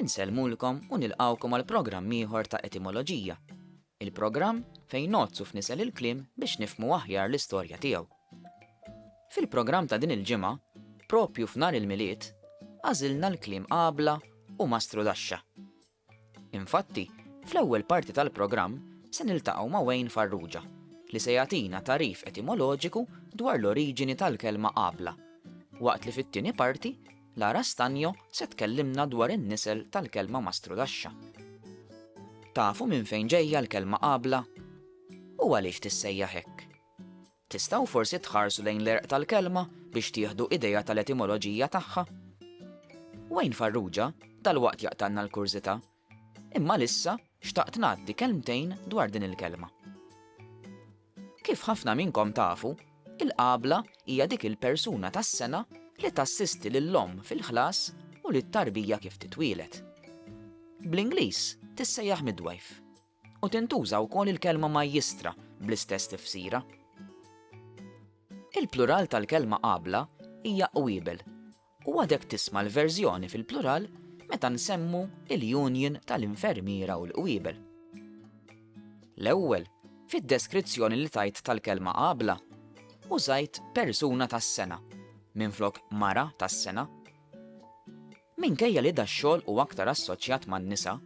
Insellmulkom u nilqgħukom għal programm ieħor ta' Etimoloġija, il-programm fejn ngħoddsu f'nisel il-kliem biex nifhmu aħjar l-istorja tiegħu. Fil-programm ta' din il-ġimgħa, propju f'Nar il-Milied, għażilna l-kliem għabla u mastrudaxxa. Infatti, fl-ewwel parti tal-programm se niltaqgħu ma' Wayne Farrugia, li se jagħtina tagħrif etimoloġiku dwar l-oriġini tal-kelma għabla, waqt li fit-tieni parti Lara Stagno se tkellimna dwar in-nisel tal-kelma mastrudaxxa. Tafu minn fejn ġejja l-kelma qabla? U għaliex tissejjaħ hekk? Tistgħu forsi tħarsu lejn l-għerq tal-kelma biex tieħdu idea tal-etimoloġija tagħha? Wayne Farrugia dalwaqt jaqtgħalna l-kurżità Imma għalissa xtaqt ngħaddi kelmtejn dwar din il-kelma. Kif ħafna minnkom tafu, il-qabla hija dik il-persuna tas-sengħa li tassisti lill-omm fil-ħlas u lit-tarbija kif titwieled. Bl-Ingliż tissejjaħ midwife u tintuża wkoll il-kelma majjistra bl-istess tifsira. Il-plural tal-kelma qabla hija qwiebel U għadek tisma' l-verżjoni fil-plural meta nsemmu l-union tal-infermiera u l-qwiebel. L-ewwel, fid-deskrizzjoni li tajt tal-kelma qabla, użajt persuna tas-sengħa minflok mara tas-sengħa. Minkejja li dax-xogħol hu aktar assoċjat man-nisa,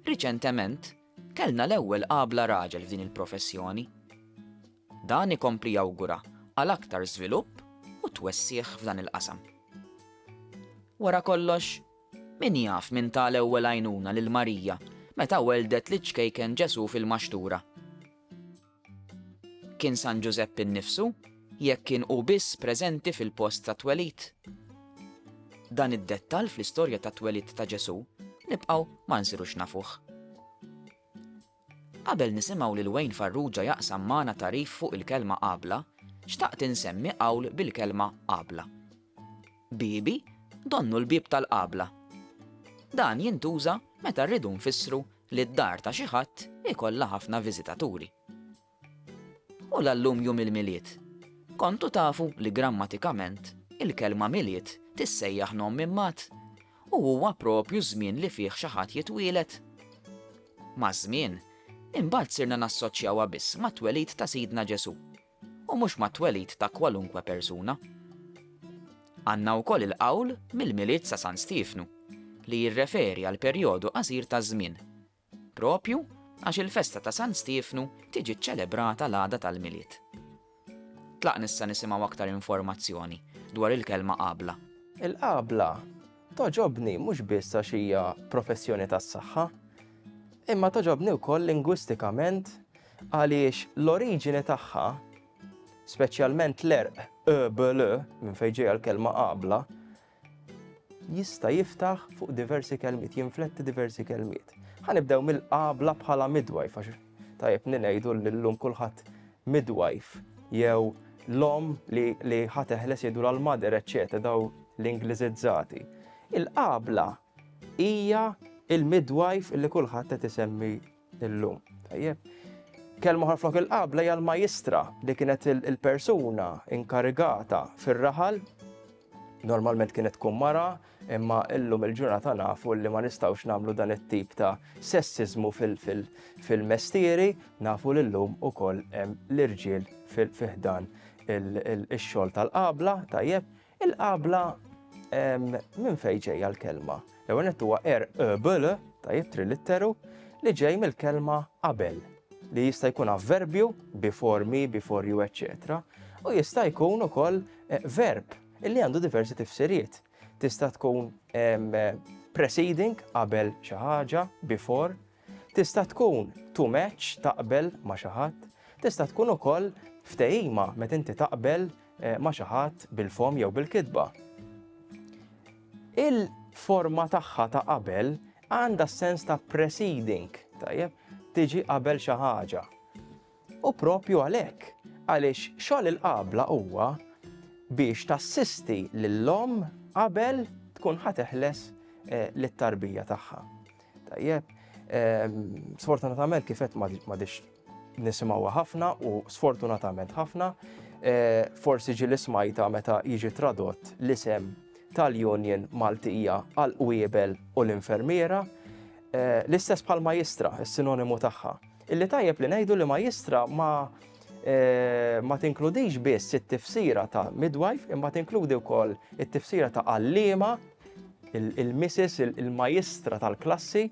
riċentement Kellna l-ewwel qabla raġel f'din il-professjoni. Dan ikompli jawgura għal aktar żvilupp u twessigħ f'dan il-qasam. Wara kollox, min jaf min ta l-ewwel għajnuna lil Marija meta welldet liċ-ċkejken Ġesù fil-maxtura? Kien San Ġużepp innifsu, jekk kien hu biss preżenti fil-post tat-twelid? Dan id-dettall fl-istorja tat-twelid ta' Ġesù nibqgħu ma nsirux nafuh. Qabel nisimgħu lil Wayne Farrugia jaqsam magħna tagħrif fuq il-kelma għabla, xtaqt insemmi qawl bil-kelma għabla. Biebi, donnu l-bieb tal-qabla. Dan jintuża meta rridu nfissru li d-dar ta' xi ħadd ikollha ħafna viżitaturi. U l-allum jum il-Milied? Kontu tafu li grammatikament il-kelma Milied tissejjaħ nom minn mat u huwa proprju ż-żmien li fih xi ħadd jitwieled? Maż-żmien, imbagħad sirna nassoċjawha biss mat-twelid ta' Sidna Ġesù u mhux mat-twelid ta' kwalunkwe persuna. Għandna wkoll il-qawl mill-Milied sa San Stiefnu li jirreferi għal perjodu qasir ta' żmien, proprju għax il-festa ta' San Stiefnu tiġi ċċelebrata l-għada tal-Milied. Tlaqn issa nisimgħu aktar informazzjoni dwar il-kelma qabla. Il-qabla togħġobni mhux biss għax hija professjoni tas-saħħa, imma togħġobni wkoll lingwistikament Għaliex l-oriġini tagħha, speċjalment l-għerq öbl, minn fejn ġejja l-kelma qabla, jista' jiftaħ fuq diversi kelmiet, jinfletti diversi kelmiet. Ħanibdew mill-qabla bħala midwajf, għax tajjeb ninejdu l-lum kulħadd midwajf, jew l-om li, li ħateħles jgħidu l-mader, eċċetera, daw l-Ingliżizzati. Il-qabla hija il-midwajf li kulħadd qed isemmi Illum, tajjeb. Kelma oħra flok il-qabla hija l-majistra li kienet il-persuna inkarigata fir-raħal normalment kienet tkun mara, imma illum il-ġurnata nafu li ma nistawx namlu dan it-tip ta' sessizmu fil-mestieri, nafu li llum u koll l-irġiel fil-fihdan il-xol tal-qabla, tajjeb, Il-qabla minn fejn ġejja l-kelma? L-ewwel nett huwa er ebl ta' jittri litteru li ġej mill-kelma qabel li jista' jkun avverbju before me, before you, etc. U jista' jkun ukoll eh, verb illi għandu diversi tifsiriet. Tista' tkun preceding qabel xi ħaġa, before, Tista' tkun to match, taqbel ma' xi ħadd. Tista' tkun ukoll ftehima meta inti taqbel ma' xi ħadd bil-fomm jew bil-kitba. Il-forma tagħha ta' qabel għandha s-sens ta' preceding, tajjeb, tiġi qabel xi ħaġa. U proprju għalhekk, għaliex xogħol il-qabla huwa biex tassisti lill-omm qabel tkun ħa teħles lit-tarbija tagħha. Tajjeb, sfortunatament kif qed m'għadix nisimgħuha ħafna u sfortunatament ħafna, forsi ġi l-ismajta meta jiġi tradott l-isem tal-Union Maltija għal qwiebel u l-infermiera, l-istess bħal majistra, is-sinonimu tagħha. Illi tajjeb li ngħidu li majjistra ma eh, ma tinkludix biss it-tifsira ta' midwife imma tinkludi wkoll it-tifsira ta' għalliema, il-missis, il-majistra tal-klassi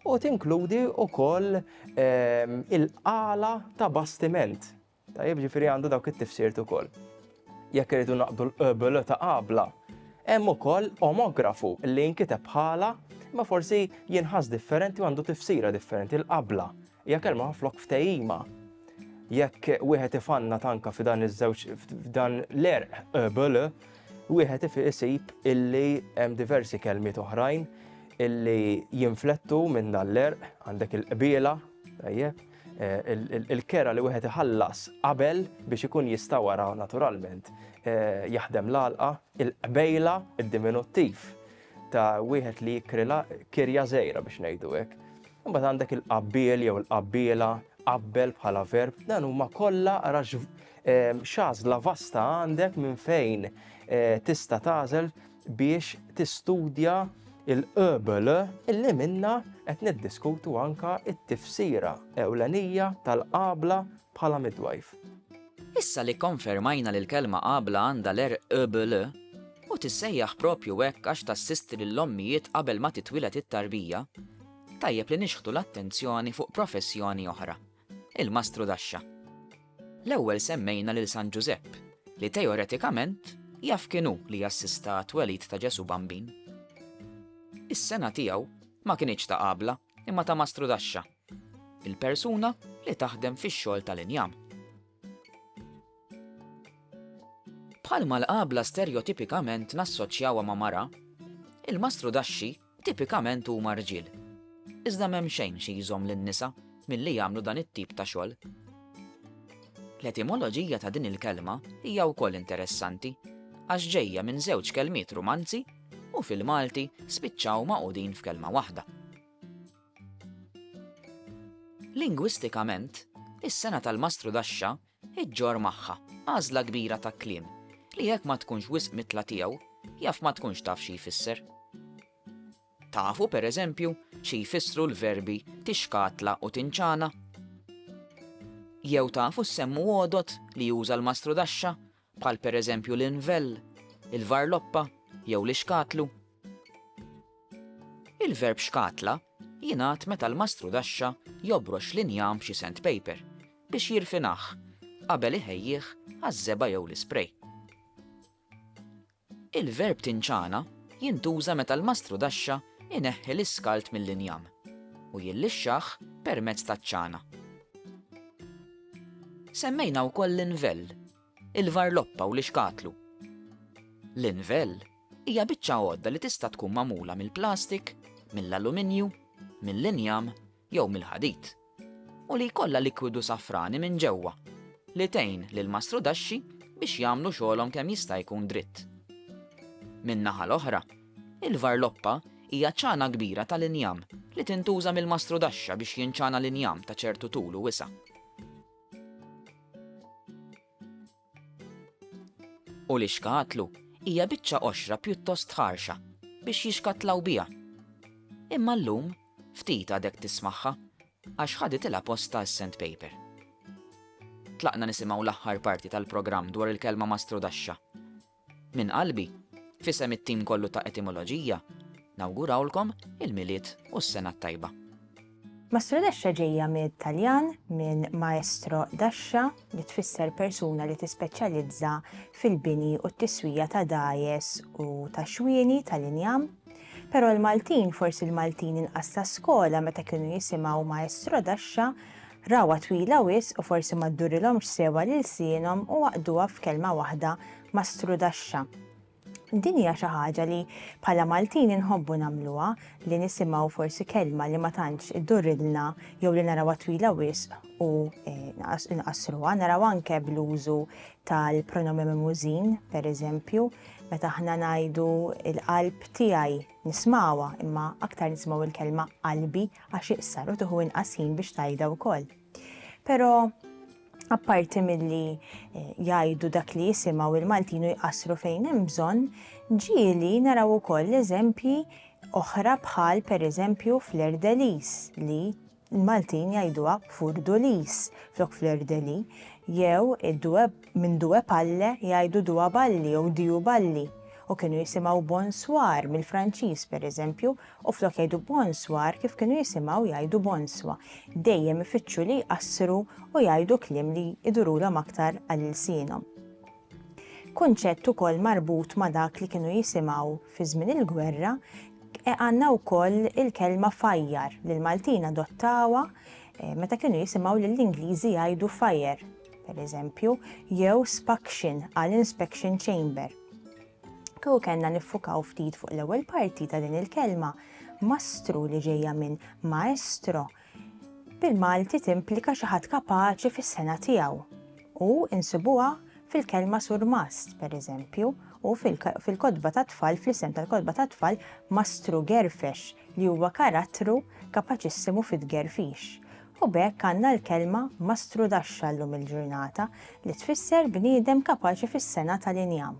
u tinkludi wkoll ehm, il-qala ta' bastiment Tajjeb, ġifieri għandu dawk it-tifsirt ukoll. Jekk irridu naqdu l-qbl ta' qabla, hemm ukoll omografu li jinkiteb bħala ma forsi jinħass differenti u għandu tifsira differenti l-qabla. Hija kelma flok ftehima. Jekk wieħed ifanna tanka f'dan iż-żewġ f'dan l-erq qbl, wieħed isib illi hemm diversi kelmiet oħrajn illi jinflettu minn dan l-erq, għandek il-qbiela, tajjeb, Il-kera li wieħed iħallas qabel biex ikun jista' wara naturalment jaħdem l-għalqa, il-qbejla, id-diminuttiv ta' wieħed li jikrila kirja żgħira biex ngħidu hekk. Imbagħad għandek il-qabbiel jew il-qabbiela, qabbel bħala verb, dan huma kollha X'għażla vasta għandek minn fejn tista' tagħżel biex tistudja l-qbl li minnha qed niddiskutu anke t-tifsira ewlenija tal-qabla bħala midwife. Issa li kkonfermajna li l-kelma qabla għandha l-erq qbl, u tissejjaħ proprju hekk għax tassisti lill-ommijiet qabel ma titwieled it-tarbija, tajjeb li nixħtu l-attenzjoni fuq professjoni oħra. Il-Mastru d'Għaxxa. L-ewwel semmejna lil San Ġużepp, li teoretikament jaf kien hu li assista għat-twelid ta' Ġesù Bambin. Is-sengħa tiegħu ma kinitx ta' qabla imma ta' mastru d'għaxxa, il-persuna li taħdem fix-xogħol tal-injam. Bħalma l-qabla sterjotipikament nassoċjawha ma' mara, il-mastru d'għaxxi tipikament huma rġiel. Iżda m'hemm xejn xi jżomm lin-nisa milli jagħmlu dan it-tip ta' xogħol. L-etimoloġija ta' din il-kelma hija wkoll interessanti għax ġejja minn żewġ kelmiet Rumanzi u fil-Malti spiċċaw magħqudin f'kelma waħda. Lingwistikament, is-sengħa tal-mastrudaxxa iġġorr magħha għażla kbira ta' kliem li jekk ma tkunx wisq mitla tiegħu, jaf ma tkunx taf xi jfisser. Tafu, per eżempju, xi jfissru l-verbi tixkatla u tinċana? Jew tafu s-semmu għodod li juża l-mastru Daxxa bħal pereżempju l-invel, il-varloppa jew l-ixkatlu. Il-verb xkatla jingħad meta l-mastrudaxxa jobrox l-injam b'xi sandpaper biex jirfinah qabel iħejjih għaż-żebgħa jew l-isprej. Il-verb tinċana jintuża meta l-mastrudaxxa jneħħi l-iskald mill-injam u jillixxah permezz taċ-ċana. Semmejna wkoll l-invel, il-varloppa u l-ixkatlu. L-invel hija biċċa għodda li tista' tkun magħmula mill-plastik, mill-aluminju, mill-injam jew mill-ħadid. u li jkollha likwidu safrani minn ġewwa li tgħin lill-mastrudaxxi biex jagħmlu xogħolhom kemm jista' jkun dritt. Min-naħa l-oħra, il-varloppa hija ċana kbira tal-injam li tintuża mill-mastrudaxxa biex jinċana l-injam ta' ċertu tul u wisa'. U l-ixkatlu hija biċċa qoxra pjuttost ħarxa biex jixkatlaw biha. Imma llum ftit għadek tismagħha għax ħaditilha postha s-sandpaper. Tlaqna nisimgħu l-aħħar parti tal-programm dwar il-kelma mastrudaxxa. Minn qalbi, f'isem it-tim kollu ta' Etimoloġija, nawgurawlkom il-Milied u s-Sena t-Tajba. Mastrodexxa ġejja mit-Taljan minn maestro dascia li tfisser persuna li tispeċjalizza fil-bini u t-tiswija ta' dgħajjes u ta' xwieni tal-injam. Però l-Maltin, forsi l-Maltin inqas ta' skola meta kienu jisimgħu maestro dascia Rawha twila wisq u forsi ma ddurilhomx sewwa l-ilsienhom u għaqqduha f'kelma waħda ma' strudaxxa. Din hija xi ħaġa li bħala Maltin inħobbu nagħmluha, li nisimgħu forsi kelma li ma tantx iddurrilna jew li narawha twila wisq u nqassruha. Naraw anke bl-użu tal-pronomen mimużin, pereżempju, meta aħna ngħidu l-qalb tiegħi nismgħuha imma aktar nisimgħu l-kelma qalbi għax iqsar u tuħu inqas ħin biex tajda wkoll. Però apparti milli eh, jgħidu dak li jisimgħu il-Maltinu jqassru fejn hemm bżonn, ġieli naraw ukoll eżempji oħra bħal pereżempju fl-Erdelis li l-Maltin jgħiduha furdulis flok fl-Erdeli jew id-dweb Minn Due Palle jgħidu Dua Balli jew Diu Balli u kienu jisimgħu Bon Soir mill-Franċiż, pereżempju, u flok jgħidu Bon Soir kif kienu jisimgħu jgħidu Bonswa. Dejjem ifittxu li jqassru u jgħidu kliem li jdurulhom aktar għal ilsienhom. Kunċett ukoll marbut ma' dak li kienu jisimgħu fi żmien il-gwerra għandna wkoll il-kelma fajjar li l-Maltin adottawha meta kienu jisimgħu lill-Ingliżi jgħidu fire. pereżempju, jew spaction għal inspection chamber. Kieku kellna niffukaw ftit fuq l-ewwel parti ta' din il-kelma, mastru li ġejja minn maestro, bil-Malti timplika xi ħadd kapaċi fis-sena tiegħu u insibuha fil-kelma surmast, pereżempju, u fil-kotba ta' tfal, fl-isem tal-kotba ta' tfal, mastru gerfex li huwa karattru kapaċissimu fit-gerfix. U b'hekk għandna l-kelma mastrudaxxa llum il-ġurnata li tfisser bniedem kapaċi fis-sengħa tal-injam.